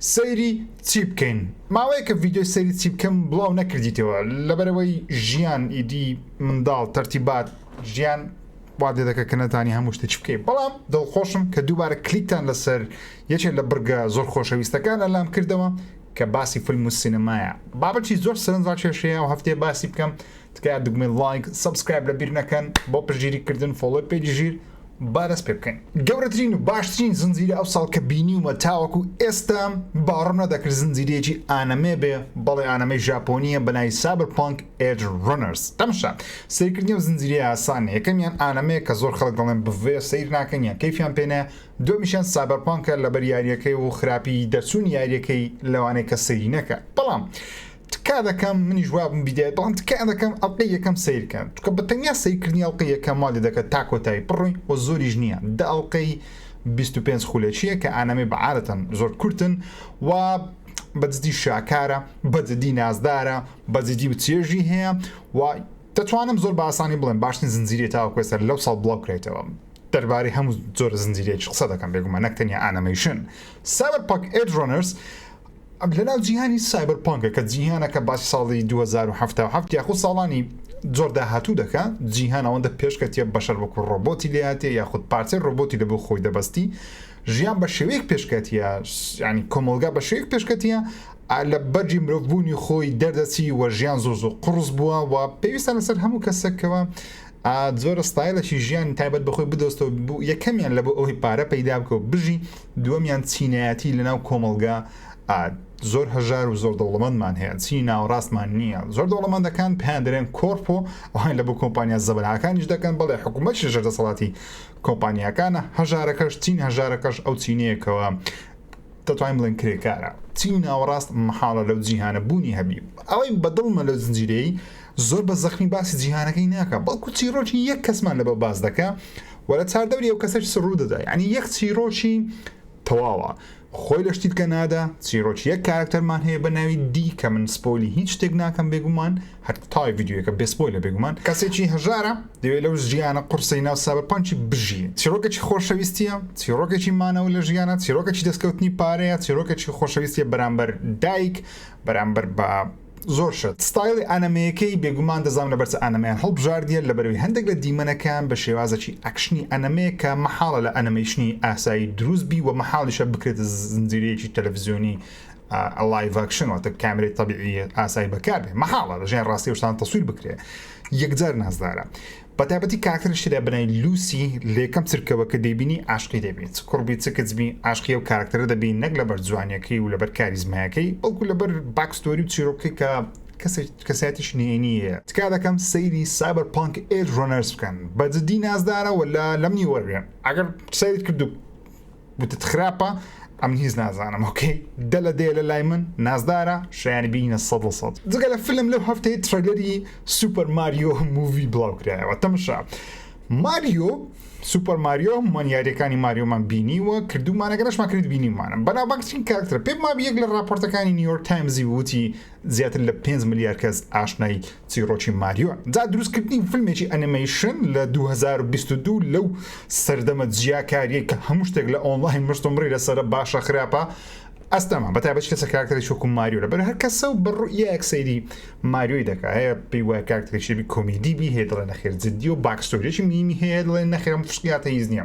سەیری چی بکەین ماوەیەکە ڤیدیۆی سەیری چی بکەم بڵاو نەکردیتەوە لەبەرئەوەی ژیان ئیدی منداڵ تەرتیبات ژیان وات لێ دەکە کە نەزانی هەموو شتە چی بکەی بەڵام دڵخۆشم کە دووبارە کلیکتان لەسەر یەکێ لە بڕگە زۆر خۆشەویستەکان ئەلام کردەوە کە باسی فلم و سینەمایە بابەتی زۆر سەرنج ڕاکێشەیە و هەفتەیە باسی بکەم تکایە دوگمەی ڵایک سەبسکرایب لەبیر نەکەن بۆ پشتگیری کردن فۆڵۆی پەیجی ژیر با دەست پێ بکەین. گەورەترین و باشترین زنجیرە ئەو ساڵ کە بینیومە تاوەکو ئێستا، باوەڕم نەدەکرد زنجیرەیەکی ئانەمێ بێ، بەڵێ ئانەمێی ژاپۆنییە بە ناوی Cyberpunk Edge Runners. تەمشا سەیرکردنی ئەو زنجیرەیە ئاسان نییە، یەکەمیان ئانەمێیە کە زۆر خەڵک دەڵێن بڤێ سەیر ناکەن یان کەیفیان پێ نایە، دووەمیشیان سایبەرپانکە لەبەر یارییەکەی و خراپیی دەرچوونی یارییەکەی لەوانەیە کەس سەیری نەکا بەڵام تکا دەکەم منیش وابم بیدایە بەڵام تکا دەکەم ئەڵقەی یەکەم سەیرکەن چونکە بە تەنیا سەیرکردنی ئەڵقەی یەکەم وا لێ دەکات تا کۆتایی بڕۆین وە زۆریش نییە دە ئەڵقەی بیست و پێنج خولەکییە کە ئانەمێ بە عادەتەن زۆر کورتن و بەجدی شاکارە بەجدی نازدارە بەجدی و چێژی هەیە و دەتوانم زۆر بە ئاسانی بڵێم باشترین زنجیرەی تاوەکو ئێستا لەو ساڵ بڵاو کرێتەوە دەربارەی هەموو زۆر زنجیرەیەکی قسە دەکەم بێگومان نەک تەنیا ئانەمەیشن سایبەرپانک ئێج ڕۆنەرز ئەم لەناو جیهانی سایبەر پانکە کە جیهانەکە باسی ساڵی 2077 یاخود ساڵانی زۆر داهاتوو دەکە جیهان ئەوەندە پێشکەتیە بەشەر وەکو ڕۆبۆتی لێهاتێ یاخود پارچەی ڕۆبۆتی لە بۆ خۆی دەبەستی ژیان بە شێوەیەک پێشکەتیە ینی کۆمەلگا بە شێوەیەک پێشکەتیە لە بەرجی مرۆڤبوونی خۆی دەردەچی وە ژیان زۆر زۆر قڕس بووە و پێویستە لەسەر هەموو کەسێکەوە ئا زۆر ستایلەکی ژیانی تایبەت بەخۆی بدۆزتەوە بو یەکەمیان لەبۆ ئەوەی پارە پەیدا بکە و بژی دووەمیان چینایەتی لەناو کۆمەڵگا ئا زۆر هەژار و زۆر دەوڵەمەندمان هەیە چینی ناوەڕاستمان نییە زۆر دەوڵەمەندەکان پێیان دەرێن کۆرپۆ ئەوان لەبۆ کۆمپانیا زەبەلاحەکانیش دەکەن بەڵێ حکوومەتیش ژێر دەسەڵاتی کۆمپانیاکانە هەژارەکەش چین هەژارەکەش ئەو چینەیە کەوە دەتوانین بڵێن کرێکارە چینی ناوەڕاست مەحاڵە لەو جیهانە بوونی هەبی ئەوەی بەدڵمە لەو زنجیرەی زۆر بە زەخمی باسی جیهانەکەی ناکا بەڵکو چیڕۆکی یەک کەسمان لەبە باس دەکا وە لە چاردەوری ئەو کەسەش سڕوو دەدا یعنی یەک چیڕۆکی تەواوە خۆی لە شتی بکە نادا چیڕۆکی یەک کارکتەرمان هەیە بە ناوی دی کە من سپۆلی هیچ شتێک ناکەم بێگومان هەتای ڤیددیوەکە بێ سپۆیلە بێگومان کەسێکی هەژارە دەوێت لەو ژیانە قڕسەی ناو سابەرپانکی بژی چیڕۆکێکی خۆشەویستیە چیڕۆکێکی مانەوە لە ژیانە چیڕۆکێکی دەستکەوتنی پارەیە چیڕۆکێکی خۆشەویستیە بەرامبەر دایک بەرامبەر بە زۆر شت. ستایڵی ئانەمێیەکەی بێگومان دەزانم لەبەر چ ئانەمێیان هەڵبژاردیە لەبەرەوەی هەندێک لە دیمەنەکەیان بە شێوازەکی ئەکشنی ئەنەمێ کە مەحاڵە لە ئەنەمەیشنی ئاسایی دروست بی وە مەحاڵیشە بکرێتە زنجیرەیەکی تەلەفزیۆنی لایڤئەکشن واتە کامێرەی تەبیعی ئاسایی بەکار بێ مەحاڵە لە ژیان ڕاستی شتان تەسویر بکرێ یەکجار نازدارە بەتایبەتی کاراکتەری شیدا بنای لوسی لەیەکەم چرکەوە کە دەیبینی عاشقی دەبی چ کوڕبی چ کچبی عاشقی ئەو کاراکتەرە دەبی نەک لەبەر جوانیەکەی و لەبەر کاریزمایەکەی بەڵکو لەبەر باکستۆری و چیرۆکەکەی کە کەسێک کەسایەتیش نهێنی هەیە تکا دەکەم سەیری سایبەر پانک ئێج ڕۆنەرس بکەن بەجدی نازدارە وەلا لەمنی وەرگرن ئەگەر سەیرت کردوو وتت خراپە ئەم هیچ نازانم ئۆکەی دە لە دێ لە لای من نازدارە شایانی بینە سە لە سەد جگە لە فیلم لەو هەفتەی ترەلەری سوپەر ماریۆ مووی بڵاو کرایەوە تەمشا ماریۆ سوپەر ماریۆ هەمومان یاریەکانی ماریۆمان بینیوە کردومانەگەنەشمان کرد بینیمانە بەناوبانگترین کارکترە پێم مابی یەک لە راپۆرتەکانی نیویۆرک تایمزی وتی زیاتر لە 5 ملیار کەس ئاشنای چیڕۆکی ماریۆ جا دروست کردنی فلمێکی ئەنیمەیشن لە دوو هەزار و بیست و دوو لەو سەردەمە جیاکاریەی کە هەموو شتێک لە ئۆنڵاین مشتومڕی لەسەرە باشە خراپە ئەستەمە بەتابەت کەسە کارکتەری شوکم ماریۆ لەبەر هەر کەسە و بڕوئیەک سەیری ماریۆی دەکە هەیە پێی وای کارکتەری شێبی کۆمیدی بی هەیە دڵێ نەخێر جددی و باکستۆریەکی مینی هەیە دڵێ نەخێرم فشقیاتە هیز نییە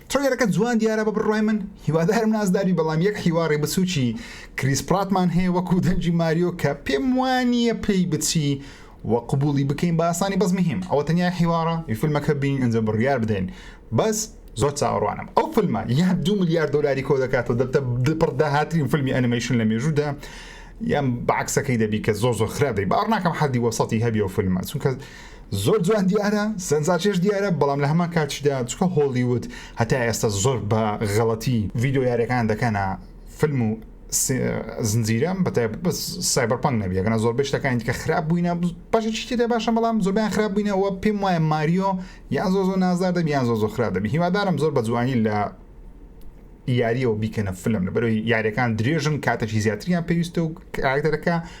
تڕەیلەرەکە جوان دیارە بە بڕوای من هیوادارم نازداربی بەڵام یەک حیواڕی بچوکی کریس پراتمان هەیە وەکو دەنگی ماریۆ کە پێم وانیە پێی بچی وە قبوڵی بکەین بە ئاسانی بەس مهم ئەوە تەنیا حیواڕە ی فلمەکە بین ئینجا بڕیار بدەین بەس زۆر چاوەڕوانم ئەو فلمە یان دوو ملیار دۆلاری کۆ دەکاتەوە دەبتە دپڕ داهاترین فلمی ئەنیمەیشن لە مێژوودا یان بەعەکسەکەی دەبی کە زۆر زۆر خراپ دەبی باوەڕ ناکەم حەدی وەسەتی هەبی ئەو فلمە چونکە زۆر جوان دیارە سەنزاچێش دیارە بەڵام لە هەمان کاتیشدا چکە هۆڵیوود هەتا ئێستا زۆر بە غەڵەتی ڤیددیو یاریەکان دەکەنە فیلم و زنجیرەم بە سایبەرپەنگ نەبیەکەە زۆر بشتەکانی کە خراپ بووینە باشە چیتی دە باشە بەڵام زۆربیان خراپ بووینەوە پێم وایە ماریۆ یان زۆ زۆ نازار دەبی یان زۆ زۆ خراپ دەبی هیوادارم زۆر بە جوانی لە یاریەوە بیکەنە فلم لە بەرەوەی یاریەکان درێژن کاتەکی زیاتریان پێویستە و کاراکتەرەکە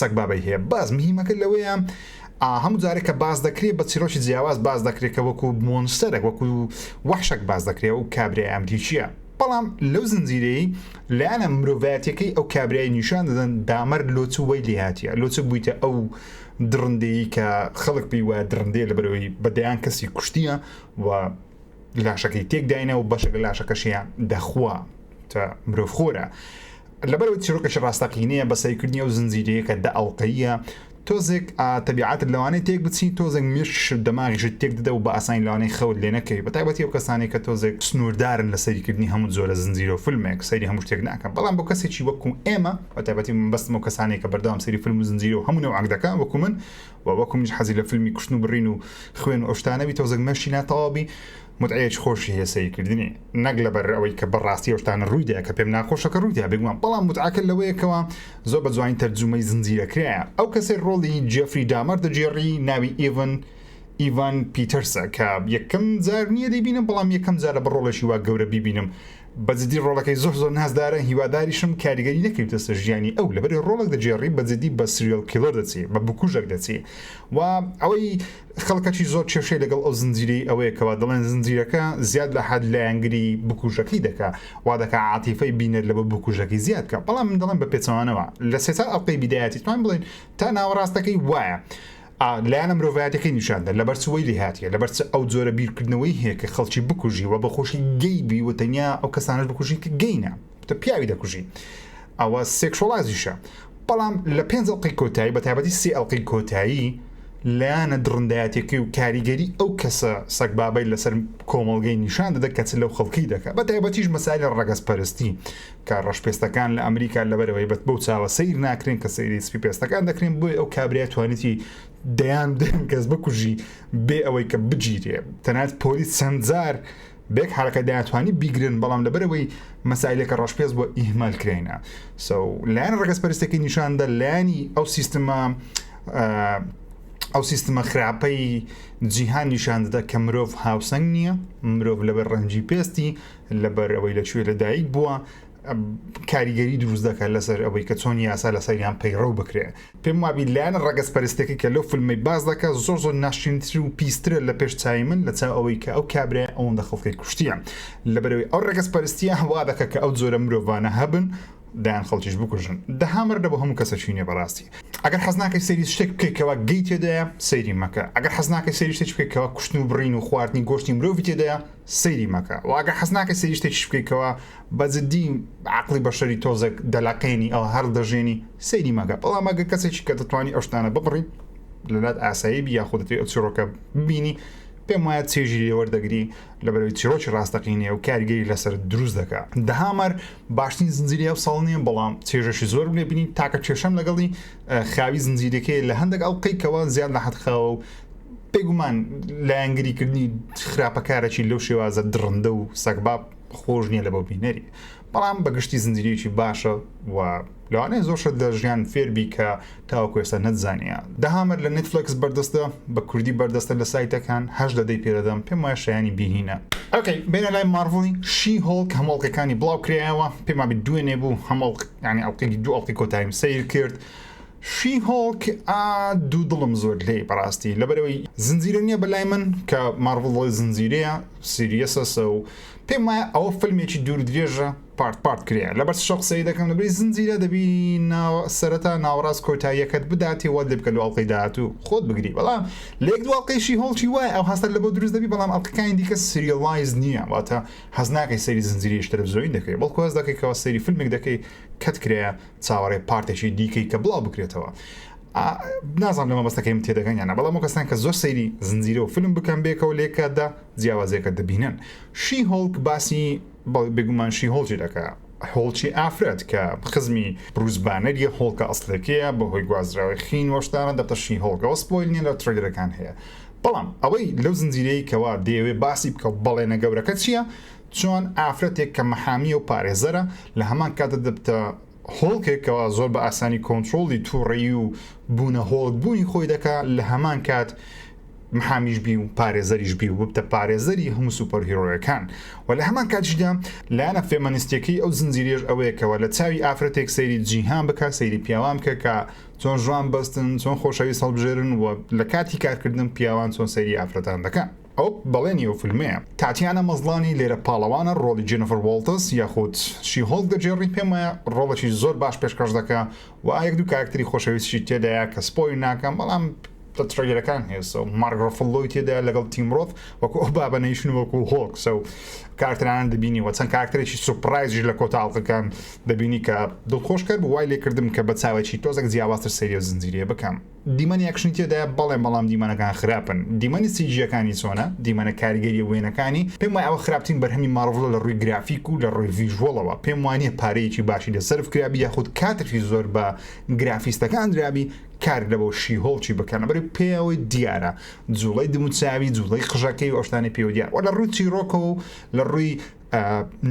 سەگبابەی هەیە باز مهیمەکە لەوەیە ئا هەموو جارێک کە باس دەکرێ بە چیرۆکی جیاواز باس دەکرێ کە وەکو مۆنستەرێک وەکو وەحشەک باس دەکرێ و کابرای ئەمریکیە بەڵام لەو زنجیرەی لایەنە مرۆڤایەتەکەی ئەو کابرای نیشان دەدەن دامەر لۆچ و وەی لێهاتیە لۆچە بوویتە ئەو دڕندەیی کە خەڵک پێی وایە دڕندەیە لەبەرەوەی بەدەیان کەسی کوشتیە و لاشەکەی تێکداینە و بەشێک لە لاشەکەشیان دەخوا تە مرۆڤ خۆرە لەبەرەوە چیرۆکەشی ڕاستەقینەیە بە سەیرکردنی ئەو زنجیرەیەکە دە ئەڵلقەیە تۆزێک تەبیعاتت لەوانەیە تێک بچین تۆزێک مێشش دەماغیشت تێک دەدە و بە ئاسانی لەوانەی خەوت لێ نەکەوی بە تایبەتی و کەسانی کە تۆزێک سنووردارن لە سەیرکردنی هەموو زۆرە زنجیرە و فیلمێک سەیری هەموو شتێک ناکەم بەڵام بۆ کەسێکی وەکو ئێمە بە تایبەتی بەستم و کەسانێک کە بەردەوام سەیری فیلم و زنجیرە و هەموو نەوعک دەکەن وەکو من وە وەکو منیش حەزی لە فلمی کوشتن و برین و خوێن و ئەوشتانە بی تەوزەک مەشی ناتەواو بی متعەیەکی خۆشی هەیە سەیر کردنی نەک لەبەر ئەوەی کە بەڕاستی ئەوشتانە ڕووی دا کە پێم ناخۆشە کە ڕووی دا بێگومان بەڵام متعەکە لەوەیە کەوا زۆر بە جوانی تەرجومەی زنجیرە کرایە ئەو کەسەی ڕۆڵی جێفری دامەر دەگێڕی ناوی ئیڤن ئیڤان پیتەرسە کە یەکەم جار نییە دەیبینم بەڵام یەکەم جارە بە ڕۆڵێکی وا گەورە بیبینم بە جدی ڕۆڵەکەی زۆر زۆر نازدارە هیواداریشم کاریگەری نەکەویتە سەر ژیانی ئەو لەبەر ڕۆڵەک دەگێڕی بە جدی بە سریەل کیڵەر دەچێ بە بکوژەک دەچێ و ئەوەی خەڵکەچی زۆر کێشەی لەگەڵ ئەو زنجیرەی ئەوەیە کەوا دەڵێن زنجیرەکە زیاد لە حەد لایەنگری بکوژەکەی دەکا وا دەکا عاتیفەی بینەر لە بە بکوژەکەی زیاد کە بەڵام من دەڵێن بە پێچەوانەوە لە سێ چوار ئەڵقەی بیدایەتی توان بڵێن تا ناوەڕاستەکەی وایە لایەنە مرۆڤایەتیەکەی نیشان دەن لەبەر چ وەی لێ هاتیە لەبەر چ ئەو جۆرە بیرکردنەوەی هەیە کە خەڵکی بکوژی و بە خۆشی گەی بی و تەنیا ئەو کەسانش بکوژی کە گەینە تە پیاوی دەکوژی ئەوە سێکشۆڵایزیشە بەڵام لە پێنج ئەڵقەی کۆتایی بە تایبەتی سێ ئەڵقەی کۆتایی لایەنە دڕندایەتەکەی و کاریگەری ئەو کەسە سەگبابەی لەسەر کۆمەڵگەی نیشان دەدە کە چ لەو خەڵکی دەکە بە تایبەتیش مەسایلە ڕەگەزپەرستی کە ڕەشپێستەکان لە ئەمریکا لەبەرەوەی بەت بەو چاوە سیر ناکرێن کە سەیری سپی پێستەکان دەکرێن بۆی ئەو کابرای توانیتی دەیان دەم کەس بکوژی بێ ئەوەی کە بگیرێ تەنات پۆلیس چەندجار بێک حرەکە دەیانتوانی بیگرن بەڵام لەبەرەوەی مەسایلێکە ڕەشپێست بۆ ئیهمال کرێنە سو لایەن ڕگەز پەرستەکەی نیشاندە لایانی ئەو سیستمە ئەو سیستمە خراپەی جیهان نیشاندەدا کە مرۆڤ هاوسەنگ نییە مرۆڤ لەبەر ڕەنجی پێستی لەبەر ئەوەی لە کوێ لەدایک بووە کاریگەری دروست دەکات لەسەر ئەوەی کە چۆن یاسا لە سەریان پەیڕەو بکرێ پێم وابی لایەن ڕگەز پەرستێکی کە لەو فیلمی باز دەکات زۆر زۆر ناشرینتر و پیسترە لە پێش چای من لە چاو ئەوەی کە ئەو کابرای ئەوەندە خەڵکی کوشتیە لەبەرەوەی ئەو ڕگەز پەرستیە هەوا دەکە کە ئەو جۆرە مرۆڤانە هەبن دایان خەڵکیش بکوژن دەهامەر دە بۆ هەموو کەسەچینێ بەڕاستی ئەگەر حەزناکەی سەری شتێک بکەیتەوە گەی تێدایە سەیری مەکە ئەگەر حەزناکەی سەری شتێک بکەیتەوە کوشتن و بڕین و خواردنی گۆشتی مرۆڤ تێدایە سەیری مەکە و ئەگەر حەز ناکەی سەیری شتێکیش بکەی کەوا بە جدی عەقڵی بەشەری تۆزێک دەلەقێنی ئەو هەر دەژێنی سەیری مەکە بەڵام ئەگەر کەسێکی کە دەتوانی ئەو شتانە ببڕی لەلات ئاسایی بی یاخود دەتوی ئەو چیرۆکە ببینی پێم وایە چێژی لێ وەردەگری لە بەرەوەی چیرۆکی ڕاستەقینەیە و کاریگەری لەسەر دروست دەکا دهامەر باشترین زنجیری ئەو ساڵ نییە بەڵام چێژەشی زۆر لێ بینی تاکە کێشەم لەگەڵی خاوی زنجیرەکەی لە هەندێک ئەڵقەی کەوا زیاد لە حەد خاوە و بێگومان لایەنگری کردنی خراپەکارەی لەو شێوازە دڕندە و سەگباب خۆش نییە لە بۆ بینەری بەڵام بەگشتی زنجیرێکی باشە و لەوانەیە زۆرشە لە ژیان فێربی کە تاوەکو ئێستا نەتزانە دەهامەر لە نتفلکس بەردەستە بە کوردی بەردەستە لە سایتەکان هەش دەدەی پێدەدەم پێم وایە شایانی بینینە ئەوکەی بێنە لای ماڕڤڵی شی هۆڵک هەمۆڵکەکانی بڵاو کرایەوە پێما دوێنێ بوو هەمۆڵ ینی ئەڵلقی دوو ئەڵلقی کۆتاییم سیر کرد شیهۆڵک ئا دوو دڵم زۆر لێی بەڕاستی لەبەرەوەی زنجیرە نییە بەلای من کە ماڕڤڵی زنجیرەیە سیریەسەسە و پێم وایە ئەوە فلمێکی دوور درێژە پارت پارت کرێە لەبەر شەق سەری دەکەم لەبری زنجیرە دەبی سەرەتا ناوەڕاست کۆتاییەکەت بداتی وە دەبکە لە ئەڵلقەی داات و خۆت بگری بەڵام لێک دواڵقەیشی هۆڵکی وای ئەو هەستە لە بۆ دروست دەبی بەڵام ئەڵلقەکانی دیکە سریڵایز نییە واتە هەزناکەی سەری زنجیریش تەلەڤزیۆین دەکەی بەڵکو هەز دەکەیتەوە سەری فیلمێک دەکەی کەت کرێە چاوەڕێ پارتێکی دیکەی کە بڵاو بکرێتەوە نازان لە مەبەستەکەی من تێدەگەن یانە بەڵام و کەسان کە زۆر سەیری زنجیرە و فلم بکەم بێکەوە لێکاتدا جیاوازێکە دەبینن شی هۆڵک باسی بێگومان شی هۆڵجی دەکە هۆڵچی ئافرەت کە خزمی بروزبانەر یە هۆڵکە ئەسلەکەیە بەهۆی گوازراوی خین وەشتانە دەتەشی هۆڵگەوە سپۆیل نیە لە ترلەکان هەیە بەڵام ئەوەی لەو زنجیرەی کەوا دەیەوێ باسی بکە بەڵێنە گەورەکە چییە چۆن ئافرەتێک کە مەحامیە و پارێزەرە لە هەمان کاتدا دەبتە هۆڵکێک کەوا زۆر بە ئاسانی کۆنترۆڵی توڕەیی و بوونە هۆڵک بوونی خۆی دەکا لە هەمان کات محامیش بی و پارێزەریش بی و ببتە پارێزەری هەموو سوپەر هیرۆیەکان و لە هەمان کاتیشدا لایەنە فێمەنیستیەکەی ئەو زنجیرێش ئەوەیەکەوە لە چاوی ئافرەتێک سەیری جیهان بکە سەیری پیاوان بکە کە چۆن ژوان بەستن چۆن خۆشەویست هەڵبژێرن و لە کاتی کارکردن پیاوان چۆن سەیری ئافرەتان دەکەن ئەوە بەڵێنی ئەو فیلمەیە. تاتیانا مەزڵانی لێرە پاڵەوانە ڕۆڵی جێنیفەر وۆڵتز یاخود شی هۆڵک دەگێڕی پێم وایە ڕۆڵێکی زۆر باش پێشکەش دەکا و یەک دوو کارەکتەری خۆشەویستیشی تێدایە کە سپۆیلی ناکەم بەڵام لە تڕەیلەرەکان هێزە و مارک ڕۆفڵلۆی تێدایە لەگەڵ تیم ڕۆث وەکو ئەو بابە نەیشن و وەکو هۆڵک سە و کارەکتەرانە دەبینی و چەند کارەکتەرێکی سوپڕایزیش لە کۆتا ئەڵقەکان دەبینی کە دڵخۆشکەر بوو وای لێکردم کە بە چاوێکی تۆزێک جیاوازتر سەیری ئەو زنجیرەیە بکەم. دیمەنی ئەکشنی تێدایە بەڵێ بەڵام دیمەنەکان خراپن دیمەنی سیجیەکانی چۆنە دیمەنە کاریگەریە وێنەکانی پێم وای ئەوە خراپترین بەرهەمی ماڕڤڵە لە ڕووی گرافیک و لە ڕووی ڤیژوەڵەوە پێم وانیە پارەیەکی باشی لە سەرف کرابی یاخود کاتێکی زۆر بە گرافیستەکان درابی کار لە بۆ شی هۆڵکی بکەن بەری پێەوەی دیارە جوڵەی دموچاوی جوڵەی قژەکەی ئۆشتانی پێوە دیار وە لە ڕووی چیرۆکەوە و لە ڕووی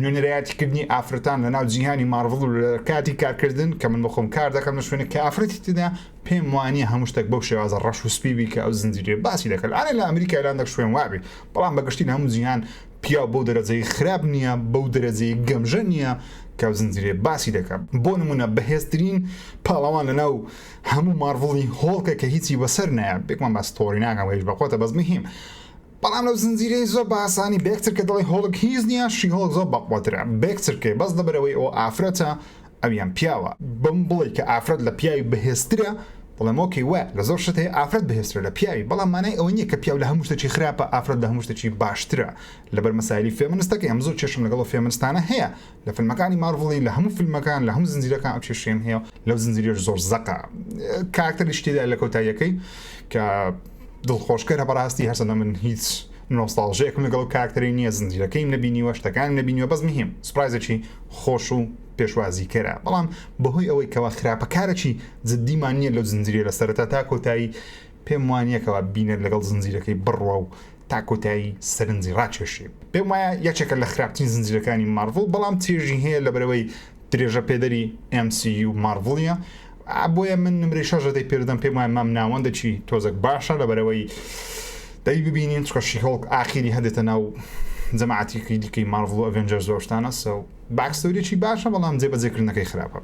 نوێنەرایەتی کردنی ئافرەتان لە ناو جیهانی مارڤڵ و لە کاتی کارکردن کە من بخۆم کار دەکەم لە شوێنە کە ئافرەتی تدا پێم وانە هەموو شتێک بەو شێوازە ڕەش و سپیبی کە ئەو زنجیرێ باسی دەکەن ئاە لە ئەمریکا لان دەک شوێن وابی بەڵام بەگشتی هەموو جیهان پیاو بەو دەرەجەی خراپ نییە بەو دەرەجەی گەمژە نییە کە زنجیرێ باسی دەکەم بۆ نمونە بەهێزترین پاڵەوان لە ناو هەموو مارڤڵی هۆڵکە کە هیچی بەسەر نایە بێکمان باستۆری ناکەم هیچ بەخۆتە بەس مهم بەڵام لەو زنجیرەی زۆر بە ئاسانی بێکترکە دەڵی هۆڵک هیچ نیە شی هۆڵک زۆر بەقوەترە بێکترکەی بەس لەبەرەوەی ئەوە ئافرەتە ئەویان پیاوە بەم بڵی کە ئافرەت لە پیاوی بەهێزترە بەڵام ئۆکەی وە لە زۆر شت هەیە ئافرەت بەهێزترە لە پیاوی بەڵام مانای ئەوە نیە کە پیاو لە هەموو شتێکی خراپە ئافرەت لە هەموو شتێکی باشترە لەبەر مەسایلی فێمنستەکەی ئەم زۆر کێشم لەگەڵ فێمنستانە هەیە لە فلمەکانی مارڤڵی لە هەموو فلمەکان لە هەموو زنجیرەکان ئەو کێشەیەم هەیە لەو زنجیرەش زۆر زەقە کاراکتەریش تێدا لە کۆتاییەکەی کە دڵخۆشکەرە بەڕاستی هەرچەندە من هیچ نۆستاڵژەیەکم لەگەڵ کاراکتەری نییە زنجیرەکەیم نەبینیوە شتەکان نەبینیوە بەس مهم سپرایزێکی خۆش و پێشوازیکەرە بەڵام بەهۆی ئەوەی کەوا خراپەکارەکی جددیمان نییە لەو زنجیرە لە سەرەتا تا کۆتایی پێم وانیەکەوە بینەر لەگەڵ زنجیرەکەی بڕوا و تا کۆتایی سەرنجی ڕاکێشی. پێم وایە یەکێکە لە خراپترین زنجیرەکانی مارڤڵ بەڵام چێژی هەیە لەبەرئەوەی درێژە پێدەری ئێم سی یو مارڤڵیە بۆیە من نمرەی شەش دەدەی پێدەم پێم وایە مام ناوەندەکی تۆزەک باشە لەبەرەوەی دەی ببینین چکە شیهۆڵک ئاخیری هەدێتە ناو جەماعەتیکی دیکەی مارڤڵ و ئەڤێنجەرز و ئەو شتانە سەو باکستۆریەکی باشە بەڵام جێبەجێکردنەکەی خراپە.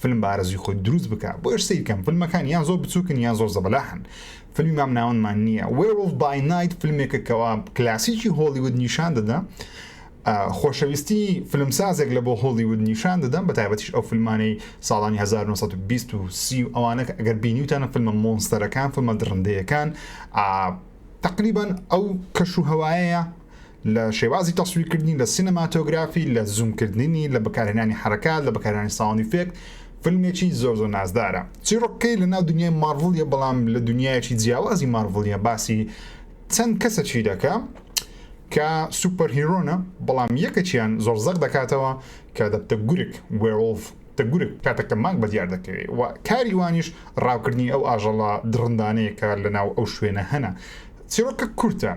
فلم بە ئارەزوی خۆت دروست بکە بۆیەش سەیر کەم فلمەکان یان زۆر بچوکن یان زۆر زەبەلاحن فلمی مام ناوەندمان نییە وێوڵ بای نایت فلمێکە کەوا کلاسیکی هۆلیود نیشان دەدا خۆشەویستی فلمسازێک لە بۆ هۆڵیود نیشان دەدەم بە تایبەتیش ئەو فیلمانەی ساڵانی 1920 ئەوانە ئەگەر بینیوتانە فیلمە مۆنستەرەکان فیلمە دڕندەیەکان تقریبان ئەو کەش و هەوایەیە لە شێوازی تەسویرکردنی، لە سینەماتۆگرافی، لە زوومکردنی، لە بەکارهێنانی حەرەکات، لە بەکارهێنانی ساوند ئیفێکت، فیلمێکی زۆر زۆر نازدارە. چیڕۆکەکەی لەناو دونیای مارڤڵیە، بەڵام لە دونیایەکی جیاوازی مارڤڵیە، باسی چەند کەسەکی دەکا کە سوپەر هیرۆنە، بەڵام یەکەکیان زۆر زەق دەکاتەوە کە دەبتە گورگ، Werewolf، دە گورگ کاتەکە مانگ بەدیار دەکەوێ و کاری وانیش ڕاوکردنی ئەو ئاژەڵە دڕندانەیە کە لەناو ئەو شوێنە هەنە. چیڕۆکە کورتە.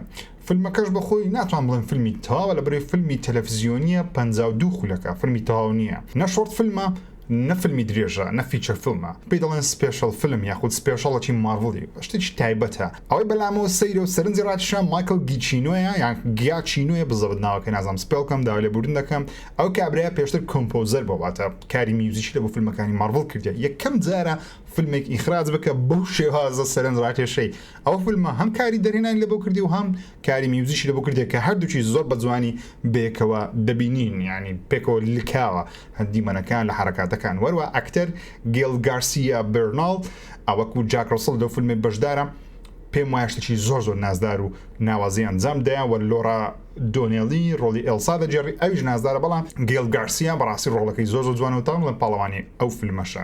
فلمەکەش بە خۆی ناتوان بڵێم فلمی تەواوە لە بەرەی فلمی تەلەفزیۆنییە پەنجا و دوو خولەکە فلمی تەواو نییە نە شۆرت فلمە نە فلمی درێژە نە فیچەر فلمە پێی دەڵێن سپێشڵ فلم یاخود سپێشڵەتی ماڕڤڵی شتێکی تایبەتە ئەوەی بەلامەوە سەیرە و سەرنجی ڕاکیشە مایکڵ گیچینۆیە یان گیاچینۆیە بزەبت ناوەکەی نازانم سپێڵ بکەم داوا لێبوردن دەکەم ئەو کابرایە پێشتر کۆمپۆزەر بۆ واتە کاری میوزیکی لە بۆ فلمەکانی ماڕڤڵ کردیە یەکەم جارە فلمێک ئیخراج بکە بەو شێوازە سەرنج ڕاکێشەی ئەو فلمە هەم کاری دەرهێنانی لەبۆ کردی و هەم کاری میوزیشی لەبۆ کردیە کە هەردووکی زۆر بە جوانی بەیەکەوە دەبینین یانی پێکەوە لکاوە دیمەنەکان لە حەرەکاتەکان وەروا ئەکتەر گێل گارسیا بێرناڵ ئەوەکو جاک ڕەسڵ لەو فلمەی بەشدارە پێم وایە شتێکی زۆر زۆر نازدار و ناوازەی ئەنجام دەیان وە لۆرا دۆنێڵی ڕۆڵی ئێلسا دەگێڕی ئەویش نازدارە بەڵام گێل گارسیا بەڕاستی ڕۆڵەکەی زۆر زۆر جوانە و تاڵم لە پاڵەوانی ئەو فلمەشە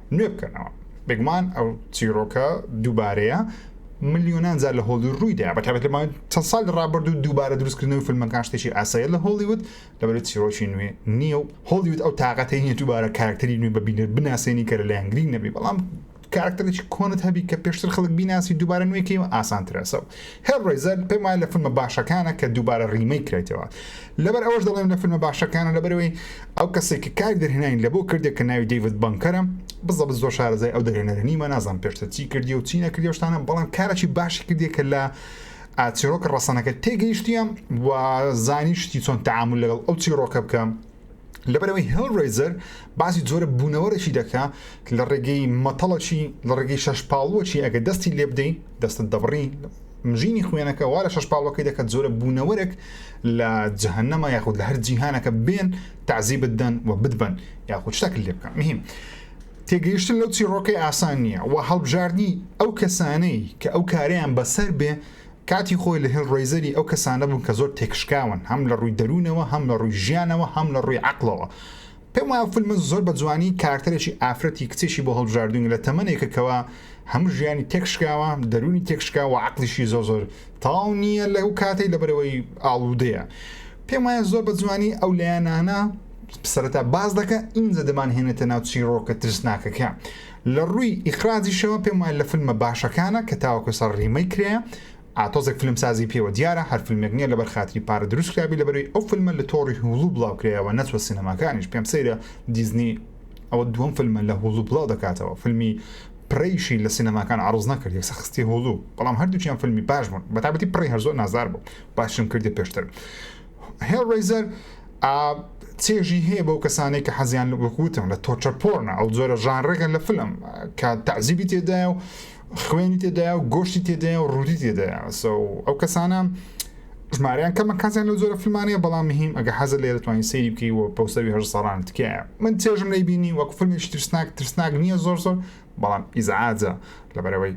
نوێ بکەنەوە. بێگومان ئەو چیرۆکە دووبارەیە ملیۆنان جار لە هۆڵی ڕوویدا بە تابێت لەمان چەند ساڵ ڕابرد و دووبارە دروستکردنەوەی فیلمەکان شتێکی ئاسایە لە هۆڵیوت لەبەری چیرۆکی نوێ نییە و هۆڵیوت ئەو تااقەتی نیە دووبارە کارکتەری نوێ بە بینەر بناسێنی کە لە لایەن گرنگ نەبی بەڵام کارکتەرێکی کۆنت هەبی کە پێشتر خەڵک بیناسی دووبارە نوێکەی و ئاسانترەسە هەر ڕێزەر پێمان لە فیلمە باشەکانە کە دووبارە ڕیمەی کرێتەوە لەبەر ئەوەش دەڵێم لە فیلمە باشەکانە لەبەرئەوەی ئەو کەسەی کە کاری دەرهێنانی لەبۆ کردێ کە ناوی دەیڤد بەنکەرە بزەبت زۆر شارەزای ئەو دەرهێنەرە نیمە نازانم پێشتر چی کردی و چی نەکردی شتانە بەڵام کارەکی باشی کردی کە لە چیرۆکە ڕەسەنەکە تێگەیشتیە و زانی شتی چۆن تعامل لەگەڵ ئەو چیرۆکە بکەم لەبەرەوەی هێڵرەیزەر باسی جۆرە بوونەوەرەشی دەکا لە ڕێگەی مەتەڵەکی لە ڕێگەی شەش پاڵوەکی ئەگە دەستی لێ بدەین دەستت دەبڕی مژینی خوێنەکە وا لە شەش پاڵەکەی دەکات جۆرە بوونەوەرەك لە جهنەما یاخود لە هەر جیهانەکە بێن تعزی بدەن و بدبن یاخود شتەک لێ بکەن مهم تێگەیشتن لەو چیڕۆکەی ئاسان نییە و هەڵبژاردنی ئەو کەسانەی کە ئەو کارەیان بەسەر بێ کاتی خۆی لە هێڵ ڕەیزەری ئەو کەسانە بووم کە زۆر تێکشکاون هەم لە ڕووی دەروونەوە هەم لە ڕووی ژیانەوە هەم لە ڕووی عەقڵەوە پێم وایە فلمن زۆر بە جوانی کارکتەرێکی ئافرەتی کچێکی بۆ هەڵبژاردوون لە تەمەنێکە کەوا هەموو ژیانی تێکشکاوە دەروونی تێکشکا و عەقڵیشی زۆر زۆر تەواو نییە لە ئەو کاتەی لەبەرەوەی ئاڵودەیە پێم وایە زۆر بە جوانی ئەو لایەنانە سەرەتا باس دەکە ئینجا دەمان هێنێتە ناو چیڕۆکە ترسناکەکە لە ڕووی ئیخراجیشەوە پێم وایە لە فلمە باشەکانە کە تاوەکو سەر ڕیمەیک کرایە، تۆزێک فلمسازی پێوە دیارە، هەر فلمێک نیە لەبەر خاتری پارە دروست کرابی لەبەروی ئەو فلمە لە تۆڕی هوڵو بڵاو کرایەوە نەچوە سینەماکانیش پێم سەیرە دیزنی ئەوە دوەم فلمە لە هوڵو بڵاو دەکاتەوە فلمی پرەیشی لە سینەماکان عەڕز نەکرد یەکسەر خستیە هوڵو بەڵام هەردوکیان فلمی باش بوون بەتایبەتی پرەی هەر زۆر نازدار بوو باشیشم کردیە پێشتر. هێڵڕەیزەر ئا چێژی هەیە بەو کەسانەی کە حەزیان وەکوتم لە تۆچە پۆرنە ئەو جۆرە ژانڕێکە لە فلم کە تەعزیبی تێدایە و خوێنی تێدایە و گۆشتی تێدایە و ڕوودی تێدایە ئەو کەسانە ژماریان کەمە کەسیان لە جۆرە فلمانەیە بەڵام مهم ئەگە حەزە لێ دەتوانین سەیری بکەی و پەوسەوی هەر سەران تکایە من چێژم لەی بینی وەک فلمی ترسناک ترسناک نییە زۆر زۆر بەڵام ئیزعاجە لەبەرەوەی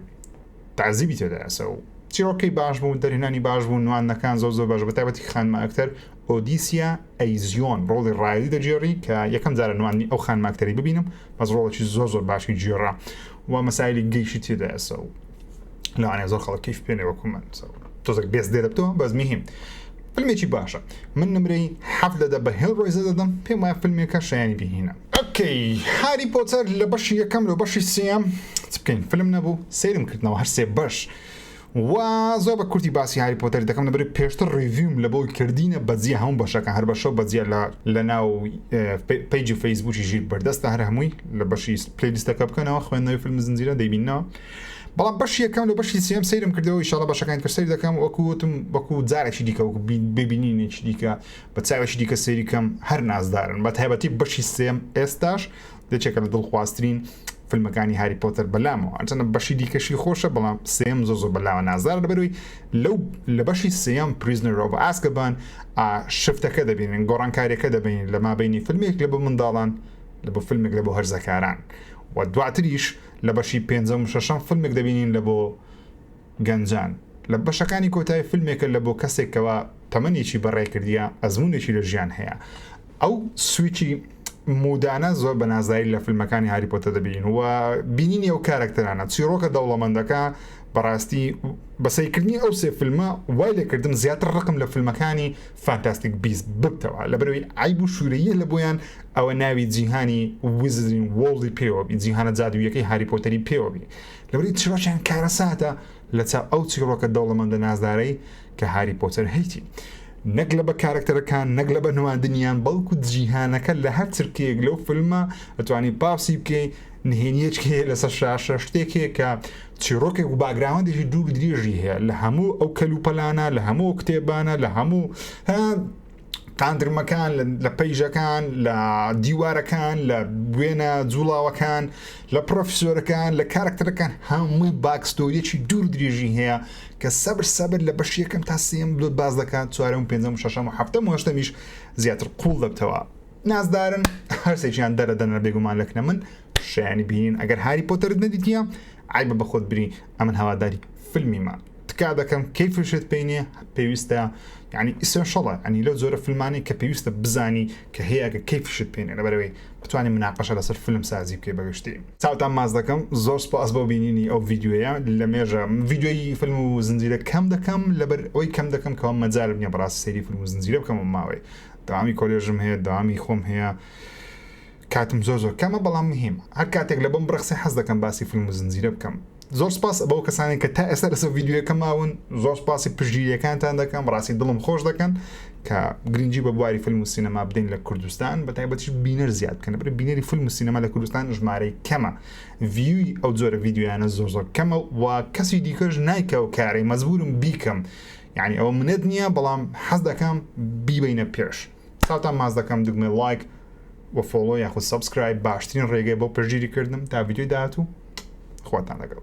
تەعزیبی تێدا ئەسە و چیڕۆکەی باش بوو دەرهێنانی باش بوو نواندنەکان زۆر زۆر باش بە تایبەتی کە خانمە ئەکتەر ئۆدیسیا ئەیزیۆن ڕۆڵی ڕایلی دەگێڕی کە یەکەم جارە نواندنی ئەو خانمە ئەکتەری ببینم بەس ڕۆڵێکی زۆر زۆر باشی گێڕا و مەسایلی گەیشی تێدا ئەسە و لەوانەیە زۆر خەڵک کەیف پێێ وەکو من تۆزەک بێز دێ دەبتەوە بەس میهیم فیلمێکی باشە من نمرەی حەف دەدە بە هێڵ ڕۆیزە دەدەم پێم وایە فیلمێکە شایانی بهینە ئۆکەی هاری پۆتەر لە بەشی یەکەم لۆ بەشی سێم چ بکەین فلم نەبوو سەیرم کردنەوە هەر سێ بەش و زۆر بە کورتی باسی هاری پۆتەر دەکەم لەبەر پێشتر ڕیڤیم لە بۆی کردینە بەجیە هەموو بەشەکە هەر بەشە بەجیە لە لە ناو پیجی فەیسبوکی ژیر بەردەستە هەر هەمووی لە بەشی پلیلیستەکە بکەنەوە خوێندنەوەی فیلم زنجیرە دەیبینەوە بەڵام بەش یەکەم لە بەشی سێم سەیرم کردەوە ئیشاڵە بەشەکانی تر سەیر دەکەم وەکوتم وەکو جارێکی دیکە وەکو ببینینێکی دیکە بە چاوێکی دیکە سەیری کەم هەر نازدارن بە تایبەتی بەشی سێم ئێستاش دەچێکە لە دڵخوازترین فیلمەکانی هاری پۆتەر بەلامەوە ئەچەنە بەشی دیکەشی خۆشە بەڵام سێم زۆ زۆ بەلاوە نازار لەبەروی لەو لە بەشی سێم پریزنەرۆ بە ئاسکەبان شفتەکە دەبینن گۆڕانکاریەکە دەبین لە مابینی فیلمێک لە بە منداڵان لە بۆ فیلمێک لە بۆ هەرزەکاران و دواتریش لە بەشی پێنجەم شەشەم فیلمێک دەبینین لە بۆ گەنجان لە بەشەکانی کۆتای فیلمێکە لە بۆ کەسێک کەوا تەمەنێکی بەڕێ کردیە ئەزمونێکی لە ژیان هەیە ئەو سویچی مودانە زۆر بە نازایی لە فیلمەکانی هاری پۆتە دەبین و بینینی ئەو کارەکتەرانە چیرۆکە دەوڵەمەندەکە بەڕاستی بەسەیکردنی ئەو سێ فیلمە وای لەکردم زیاتر ڕقم لە فیلمەکانی فانتاستیک بیست ببتەوە لە بەرەوەی ئایب و شوورەیە لە بۆیان ئەوە ناوی جیهانی وزرین وڵی پێوەبی جیهانە جادوویەکەی هاری پۆتەری پێوەبی لەبری چیرۆکیان کارەساتە لە چاو ئەو چیڕۆکە دەوڵەمەندە نازدارەی کە هاری پۆتەر هەیتی نەک لە بە کارەکتەرەکان نەک لە بە نواندنیان بەڵکو جیهانەکە لە هەر چرکەیەک لەو فیلمە ئەتوانی پاسی بکەی نهێنیەک هەیە لەسەر شاشە شتێک هەیە کە چیرۆکێک و باگراوەندێکی دوور درێژی هەیە لە هەموو ئەو کەلوپەلانە لە هەموو کتێبانە لە هەموو قاندرمەکان لە پەیژەکان لە دیوارەکان لە بوێنە جوڵاوەکان لە پرۆفیسۆرەکان لە کارکتەرەکان هەمووی باکستۆریەکی دوور درێژی هەیە کە سەبر سەبر لە بەش یەکەم تا سیم لۆت باز دەکات چوارم پێنجم شەشەم و هەفتم و هەشتەمیش زیاتر قوڵ دەبتەوە نازدارن هەرسێکیان دەرەدەنە بێگومان لەکنە من شیانی بینین ئەگەر هاری پۆتەرت نەدیتە عیبە بە خۆت بری ئەمن هەواداری فلمیمە تکا دەکەم کەی فشت پێینێ پێویستە ینی ئیسنشڵە ئەنی لەو زۆرە فلمانی کە پێویستە بزانی کە هەیەکە کەی فشت پێێنێ لەبەرەوەی بتوانانی مناقەشە لەسەر فلم سازی بکەی بەگشتی چاوتان ماز دەکەم زۆر سپاس بۆ بینینی ئەو یددیوەیە لە مێژە یددیوی فلم و زنجیرە کەم دەکەم لەبەر ئەوی کەم دەکەم کەەوە مەجارب نیە بەڕاست سری فلم و زنجیرە بکەم ماوەی داوامی کۆلێژم هەیە داوامی خۆم هەیە کاتم زۆر زۆر کەمە بەڵام مهیمە هەر کاتێک لەبۆم بڕەخسێ حەز دەکەم باسی فیلم و زنجیرە بکەم زۆر سپاس بەو کەسانێک کە تا ئێستا لەسەر ڤیدیۆیەکە ماون زۆر سپاسی پشتگیریەکانتان دەکەم ڕاستی دڵم خۆش دەکەن کە گرنگی بە بواری فیلم و سینەما بدەین لە کوردستان بە تایبەتیش بینەر زیاد بکەن بر بینەری فیلم و سینەما لە کوردستان ژمارەی کەمە ڤیوی ئەو جۆرە ڤیددیویانە زۆر زۆر کەمە و کەسی دیکەش نایکە و کارەی مەزبورم بیکەم یعنی ئەوە منەت نییە بەڵام حەز دەکەم بیبینە پێش چاوتان ماچ دەکەم دوگمەی ڵایک و فۆڵۆ یاخود سەبسکرایب باشترین ڕێگەیە بۆ پشتگیری کردنم تا ڤیدیۆی داهاتوو خواتان لەگەڵ.